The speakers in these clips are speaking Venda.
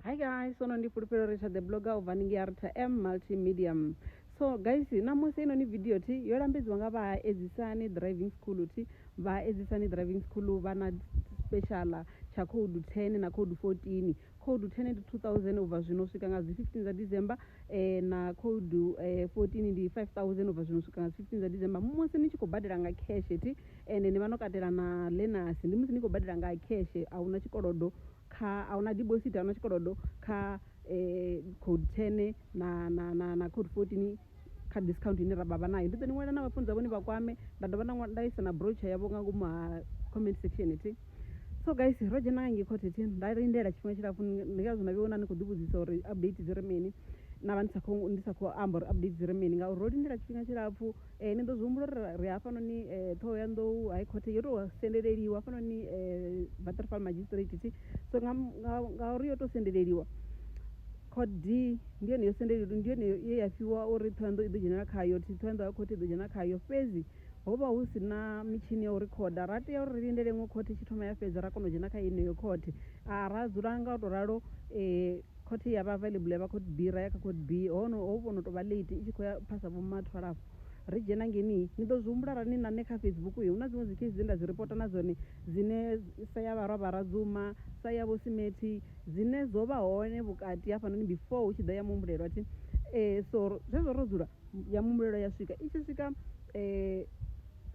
hi guys sono ndi fulufhelo uri tsha the blogger u bva ningi arta m multimedium so guys namusi inoni video ti yo lambedziwa nga vhaedzisani driving school ti vhaedzisani driving school vha na special tsha code 10 na code 14 code 10 ndi 2000 ubva zwino u swika nga dzi 15 dza december eh, na code eh, 14 ndi 5000 ubva zwino u swika nga dzi 15 dza december musi ni tshi khou badela nga cash ti ende ni vha no katela na lenasi ndi musi ni khou badela nga cash a huna tshikolodo kha a huna dibosithi a huna tshikolodo kha code ten na na na na code fourteen kha discount ine ra vha nayo ndi ḓo ni ṅwalela na vhafunzi vhone vha kwame nda dovha nda nda isa na brochure yavho nga ngomu ha comment section thi so guys ro dzhena nga ngei khothe thi nda lindela tshifhinga tshilapfu ndi ngazwo na vhe wona ni khou ḓivhudzisa uri update dzi ri mini na vha ndi sa khou ndi sa khou amba uri update dzi ri mini ngauri ro lindela tshifhinga tshilapfu Ni ḓo zwi humbula uri ri hafhanoni Ṱhohoyanḓou High Court yo tou sendeleliwa hafhanoni Waterval Magistrate thi so nga nga uri yo tou sendeleliwa Court D ndi yone yo sendeleliwa ndi yone ye ya fhiwa uri Ṱhohoyanḓou i ḓo dzhenelela khayo thi Ṱhohoyanḓou High Court i ḓo dzhena khayo fhedzi ho vha hu si na mitshini ya u rikhoda ra tea uri ri lindele iṅwe khothe i tshi thoma ya fhedza ra kona u dzhena kha yeneyo khothe ra dzula nga u tou ralo. Khothe ya vha available ya vha court B ra ya kha court B hono ho vhono to vha late i tshi kho ya phasa vho mathu halafho ri dzhena ngeni ni ḓo zwi humbula ra ni na nṋe kha Facebook yo hu na dziṅwe dzi case dze nda dzi reporter na dzone dzine sa ya vharwa vha radzuma sa ya vho simethi dzine dzo vha hone vhukati hafhanoni before hu tshi ḓa ya muhumbulelo athi eh so zwezwo ro dzula ya muhumbulelo ya swika i tshi swika eh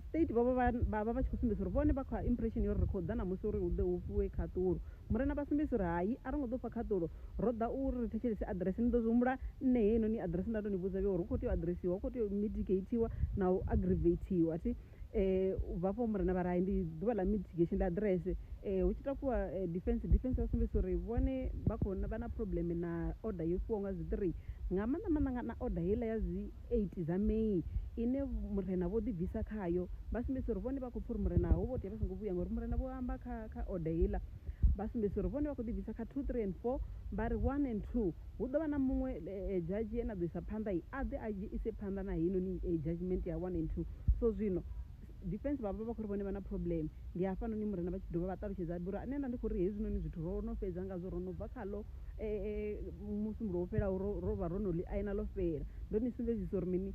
state vha vha vha vha vha tshi khou sumbedzisa uri vhone vha kha impression yo ri khou ḓa na musi uri hu ḓe hu fhiwe khaṱulo Murena vha sumbedzisa uri, Hai, a ro ngo ḓa u fha khaṱulo. Ro ḓa u ri ri thetshelese aḓirese. Ni ḓo zwi humbula, nṋe heinoni aḓirese nda tou ni vhudza vhe uri hu khou tea u aḓiresiwa, hu khou tea u mitigeithiwa na u agiriveithiwa. Thi, u bva afho murena vha ri, Hai, ndi ḓuvha ḽa mitigation, ḽa aḓirese. Hu tshi takuwa defence, defence vha sumbedzisa uri vhone vha khou, vha na phurobuḽeme na order yo fhiwaho nga zwiṱirii, nga maanḓa maanḓa na order heiḽa ya zwi, 8 dza May ine murena vho ḓi bvisa khayo vha sumbedzisa uri vhone vha khou pfha uri murena ho vho tea vha songo vhuya ngori murena vho amba kha kha order heiḽa vha sumbedzisa uri vhone vha khou ḓi bvisa kha 2 3 and 4 vha ri 1 and 2 hu ḓo vha na muṅwe eh, eh, judge ane a ḓo isa phanḓa i a ḓe a ise phanḓa na heinoni eh, judgment ya 1 and 2 so zwino Defence vha vha vha khou ri vhone vha na problem. Ndi hafhanoni Murena vha tshi dovha vha ṱalutshedza vha uri, Nṋe nda ndi khou ri hezwinoni zwithu ro no fhedza ngazwo, ro no bva khaḽo Musumbulowo wo fhelaho, ro ro vha ro no ḽi aina ḽo fhela. Ndo ni sumbedzisa uri mini?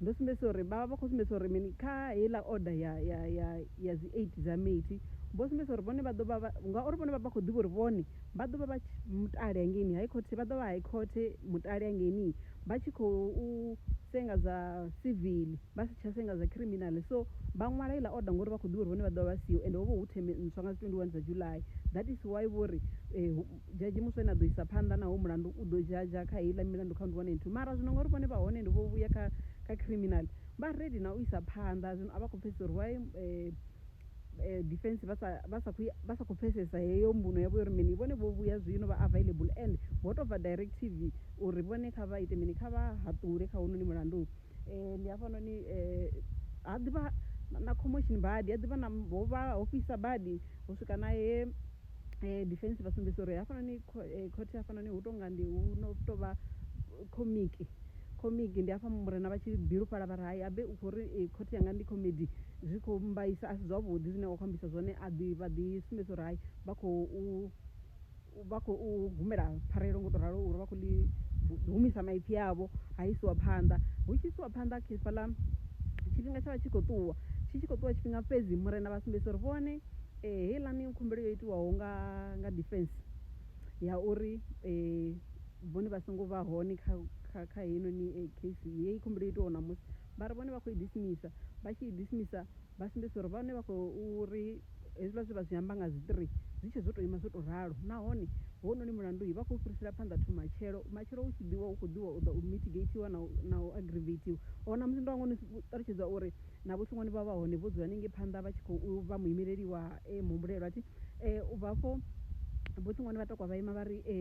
Ndo sumbedzisa uri, vha vha vha khou sumbedzisa uri mini kha heiḽa order ya ya ya ya dzi eight dza Meti, vho sumbedzisa uri vhone vha ḓo vha vha, ngauri vhone vha vha khou ḓivha uri vhone vha ḓo vha vha mutale hangeini High Court, vha ḓo vha High Court mutale hangeini. vha tshi khou senga zwa civil vha si tsha senga zwa criminal so vha ṅwala iḽa order ngori vha khou ḓivha uri vhone vha ḓovha vha siho ende ho vha hu theme ntswa nga dzi 21 dza July that is why vho ri eh, dzhadzhi muswa ene a ḓo isa phanḓa naho mulandu u ḓo dzhadzha kha heiḽa milandu count 1 and 2 mara zwino ngauri vhone vha hone ende vho vhuya kha kha criminal vha ready na u isa phanḓa zwino a vha khou pfhesesa uri why eh, eh, defense vha sa vha sa khou vha sa khou pfesesa heyo mbuno yavho uri mini vhone vho vhuya zwino vha available and ho tou bva direct tv uri vhone kha vha ite mini kha vha haṱule kha hononi mulandu um ndi hafhanoni um ha ḓivha na commotion badi ha ḓivha na ho vha ho fhisa badi ho swika na he eh, defense vha sumbedzisa uri hafhanoni eh, khothe hafhanoni hu tonga ndi hu no tou vha komiki komiki ndi hafha murena vha tshi bilufhala vha ri hai abe u khou ri eh, khothe yanga ndi comedy zwi khou mbaisa a si zwavhuḓi zwine wa khou ambisa zwone a ḓi vha ḓi sumbedza uri hai vha khou vha khou humela pfarelo ngo to ralo uri vha khou ḽi humisa maipfi avho ha isiwa phanḓa hu tshi isiwa phanḓa khefhaḽa tshifhinga tsha vha tshi khou ṱuwa tshi tshi khou ṱuwa tshifhinga fhedzi murena vha sumbedzisa uri vhone Heiḽani khumbelo yo itiwaho nga nga defence ya uri vhone vha songo vha hone kha kha kha heinoni case heyi khumbelo yo itiwaho ṋamusi vhari vhone vha khou i dismisa vha tshi i dismisa vha sumbedzisa uri vhone vha khou uri hezwiḽa zwe vha zwi amba nga dzi three zwi tshe zwo to ima zwo to ralo nahone hounoni mulandu vha khou fhirisela phanḓa to matshelo matshelo u tshi ḓivha u kho ḓivha u ḓa u mitigate iwa na u na u agravated or ṋamusi ndo hangwa u ṱalutshedza uri. Na vhuṱunguni vha vha hone vho dzula hanengei phanḓa vha tshi khou vha muimeleli wa e muhumbulelwa thi e u bva afho vhuṱunguni vha tokwa vha ima vha ri e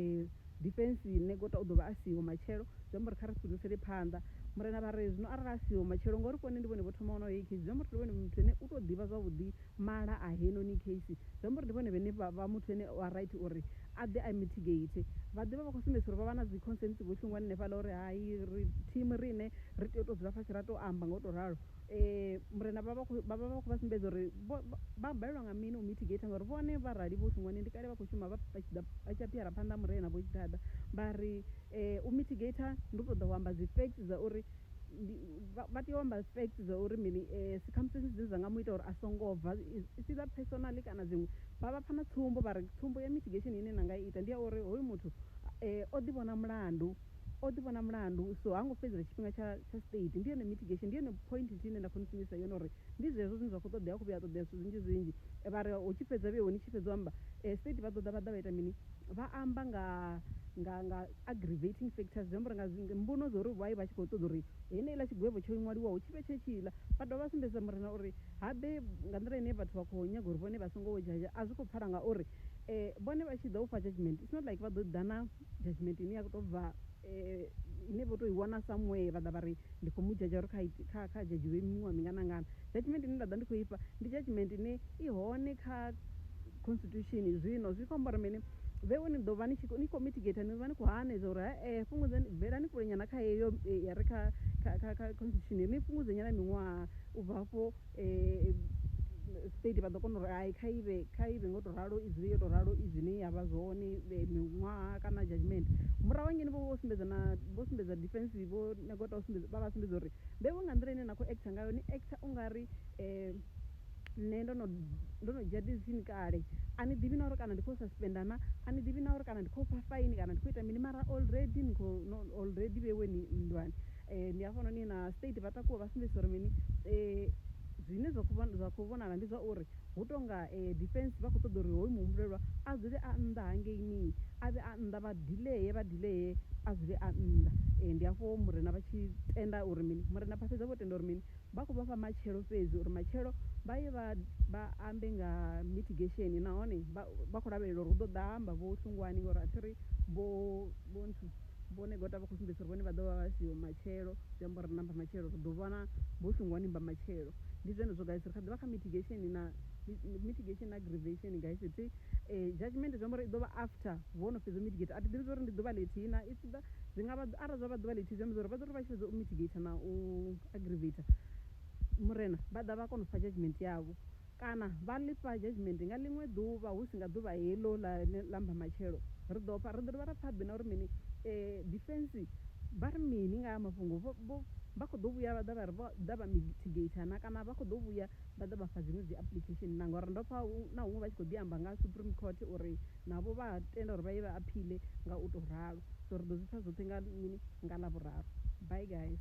defense nṋe gota u ḓo vha a siho matshelo zwi amba uri kha ri fhindusele phanḓa murena vha ri zwino arali a siho matshelo ngori kone ndi vhone vho thoma ono heyi case zwi amba uri ndi vhone muthu ene u tou ḓivha zwavhuḓi mala a heinoni case zwi amba uri ndi vhone vhene vha muthu ene wa right uri a ḓe a mitigate vha ḓivha vha kho sumbedzisa uri vha vha na dzi consensi vho shungwani hanefhaḽa uri hai ri team riṋe ri tea u to dzula fhasi ra to amba nga u to ralo um murena vha vha vha vha vha khou vha sumbedza uri vha balelwa nga mini u mitigate ngauri vhone vha rali vho shungwani ndi kale vha khou shuma vha tshi ḓa vha tshi aphiara phanḓa murena vho tshi ḓaḓa vha ri um u mitigate ndi u to ḓa u amba dzi facts dza uri ndi vha vha tea u amba facts dza uri mini eh, circumstances dzine dza nga mu ita uri a songo bva si ḽa personally kana dziṅwe vha vha pfha na tsumbo vha ri tsumbo ya mitigation ine na nga i ita ndi ya uri hoyu muthu eh, o ḓivhona mulandu o ḓivhona mulandu so ha ngo fhedzela tshifhinga tsha tsha state ndi yone mitigation ndi yone point nthihi ine nda khou ni sumbedzisa yone uri ndi zwezwo zwine zwa khou ṱoḓea khou vhuya a ṱoḓea zwithu zwinzhi zwinzhi Eh, vha ri hu tshi fhedza vheo ni tshi fhedza u amba eh, state vha ḓo ḓa vha ḓa vha ita mini vha amba nga nga nga aggravating factors zwi amba uri nga zwi mbuno zwa uri vha vha tshi khou ṱoḓa uri heneiḽa tshigwevho tsho ṅwaliwaho tshi vhe tshetshila vha dovha vha sumbedzisa murena uri habe nga nḓila ine vhathu vha khou nyaga uri vhone vha songo wo dzhazha a zwi khou pfala ngauri um vhone vha tshi ḓa u fha judgment it's not like vha ḓo ḓa na judgment ine ya khou tou bva um ine vho tou i wana somewhere vha ḓa vha ri ndi khou mu dzhadzha uri kha kha kha dzhadzhiwe miṅwaha mingana ngana Judgement ine nda ḓa ndi khou ifha ndi judgement ine i hone kha constitution zwino zwi khou amba uri mini vheo ni ḓo vha ni tshi ni khou mitigator ni vha ni khou hanedza uri hae fhungudzani bvelani kule nyana kha heyo ya re kha kha kha kha constitution ni fhungudze nyana miṅwaha u bva hafho state vha ḓo kona uri hai kha ivhe kha ivhe ngo to ralo i dzule yo to ralo i zwine ya vha zwone miṅwaha kana judgement murahu hangeni vho vho sumbedza na vho sumbedza defense vho na gota u sumbedza vha vha sumbedza uri mbevho nga nḓila ine na khou actor ngayo ni actor u nga ri um nṋe ndo no ndo no dzhia decision kale a ni ḓivhi na uri kana ndi khou suspenda na a ni ḓivhi na uri kana ndi khou fha faini kana ndi khou ita mini mara already ni khou already vhewe ni nndwani um ndi hafhanoni na state vha takuwa vha sumbedzisa uri mini um zwine zwa khou vhonala ndi zwa uri Hu tou nga e, defence vha khou ṱoḓa uri hoyu muhumbulelwa a dzule a nnḓa hangeini, a vhe a nnḓa, vha dilee, vha dilee, a dzule a nnḓa. E, ndi hafho Murena vha tshi tenda uri mini? Murena vha fhedza vho tenda uri mini? Vha khou vha fha matshelo fhedzi uri matshelo vha ye vha, vha ambe nga mitigation nahone vha, vha khou lavhelela uri hu ḓo ḓa ha amba Vho Hlungwani ngauri a thi ri Vho, Vho nthu. vhone gota vha khou sumbedzisa uri vhone vha ḓo vha vha siho matshelo zwi amba uri namba matshelo ri ḓo vhona vho songo ni mba matshelo ndi zwone zwo guys ri kha ḓivha kha mitigation na mitigation na aggravation guys thi eh, judgment zwi amba uri i ḓovha after vho no fhedza u mitigate a thi ḓivhi uri ndi ḓuvha ḽithihi na i ḓa zwi nga vha arali zwa vha ḓuvha ḽithihi zwi amba uri vha ḓo ri vha tshi fhedza u mitigate na u aggravate murena vha ḓa vha kona u fha judgment yavho Kana vha lifha judgement nga ḽiṅwe ḓuvha husi nga ḓuvha heḽo ḽa ḽa mbamatshelo. Ri ḓo pfa, ri ḓo dovha ra pfa Bina uri mini? Defence vha ri mini nga haya mafhungo? Vho, vho, vha khou ḓo vhuya vha ḓa vha ri vho ḓa vha mitigator na? Kana vha khou ḓo vhuya vha ḓa vha fha dziṅwe dzi application na? Ngauri ndo pfa na huṅwe vha tshi khou ḓi amba nga Supreme Court uri navho vha a tenda uri vha ye vha appeal nga u tou ralo. So ri ḓo zwi pfa zwoṱhe nga mini? Nga Ḽavhuraru. Bye guys.